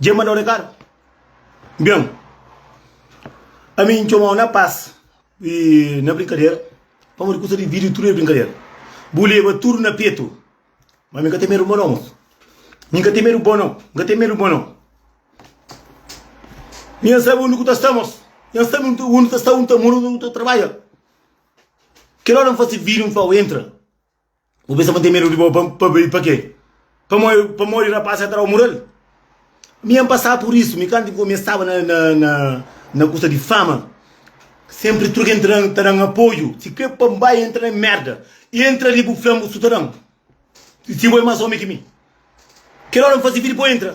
Dje ma dau rekadu? Bem, ami N txomau na pas y na brinkadera, pamodi kusa di vida tudu é brinkadera. Bu leba tudu na petu, ma ami N ka ten medu bo nau mosu. Mi N ka ten medu bo nau, N ka ten medu bo nau. Mi N sabi undi ku ta sta mosu, mi N sabi undi ta sta, undi ta mora, undi ta trabadja. Kel ora N fasi vidju N flau, entra. Bu pensa ma N ten medu di bo pa bai pa ke? Pamodi rapaz ka ta dau mural? Mi N pasaba pur isu, mi kantu N komi N staba na kusa di fama, senpri tudu ken ta dan apoiu, si kre pa N bai entra na merda, entra li bu fla-m bu sutadon, si bo e mas omi ki mi, kel ora N fasi vidi pa bu entra.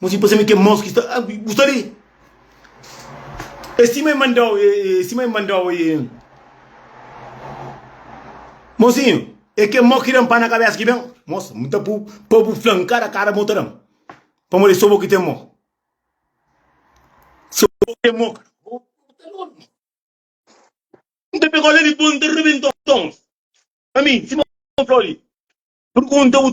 Mo si pase-me kel mos ki sta, ah, bu sta li? É sima e manda-u, é sima e manda-u e. Mozinho, é kel mos ki da-m pá na kabésa ki ben? Mosi, N ta pô-u pa bu fla-m kada kada mos ta da-m, pamodi é sô bo ki ten mos. Sô bo ki ten mos ka? Bo ta lóju mos. N ta pega-u la li, dipôs N ta rebenta-u tons. Ami, sima un flor li, purgunta-u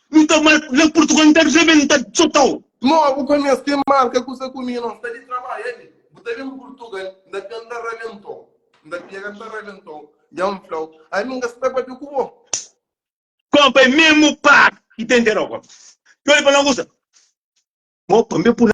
Nu ta mal na purtugal nu ta rebenta txotau. Nau bu ka meste marka kusa ku mi nos ta li trabadja li bu ta ben purtugal n ta ben ta rabentau n ta pega n ta rabentau dja n flau ami n ka sta papia ku bo. Konpa é mesmo papi ki ta interau konpa. Txeu li fala na kusa. Mo pa mi é puna.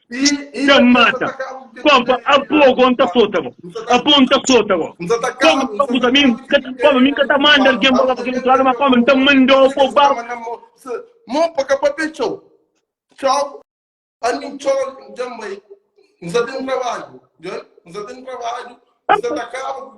Dja-m mata. Konpa, apo go N ta sota bo. Apo N ta sota bo. Konpa, N ta kuza. Mi N ka ta, konpa, mi N ka ta manda algen pa ba pa kel otu ladu, ma konpa, N ta manda-u apo ba. Staba na mo se mon pa ka papia txeu. Txau, ami txau dja-m bai. N sa ten trabadju, djon, N sa ten trabadju, N sa ta kaba ku.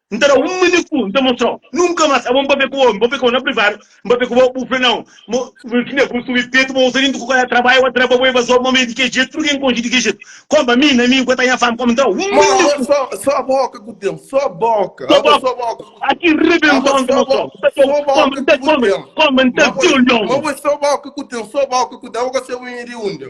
N ta da-u un maniku, N ta mostra-u. Nunka más abo N papia ku bo, N papia ku bo na privadu, N papia ku bo, bu fla nau. Má ki nda bu subi petu, bu uza dintu ku kada trabadju, atrás pa bu e bazoba, ma mi di ki jetu, tudu ki N konxi di ki jetu. Koma mi, na mi, ku ta nha fami, koma. N ta da-u un maniku. Má abo sô boka ku ten, sô boka. Sô boka, sô boka ku ten. Abo ki rebenta-u, N ta mostra-u. N ta da-u, koma, N ta kome, koma, N ta da-u, N ta da-u. Má abo é sô boka ku ten, sô boka ku ten, abo gosi abo inha di unda.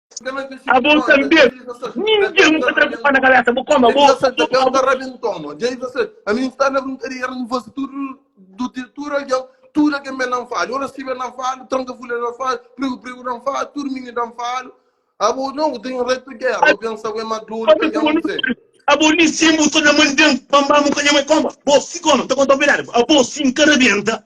Abon ta bes, ninguém nunca traz culpa na cabeça, bo como, bo, a mim está na brincadeira, não vou tudo do tudo alguém, tudo alguém me não fala, eu não sei não falo, tranca folha não falo, prego prego não falo, tudo menino não falo, abo não tem reto guerra, eu penso eu é maduro, abo nem sempre sou na mandem, bambam o canhão é como, bo se como, tá com a tua verdade, abo se encarabenta,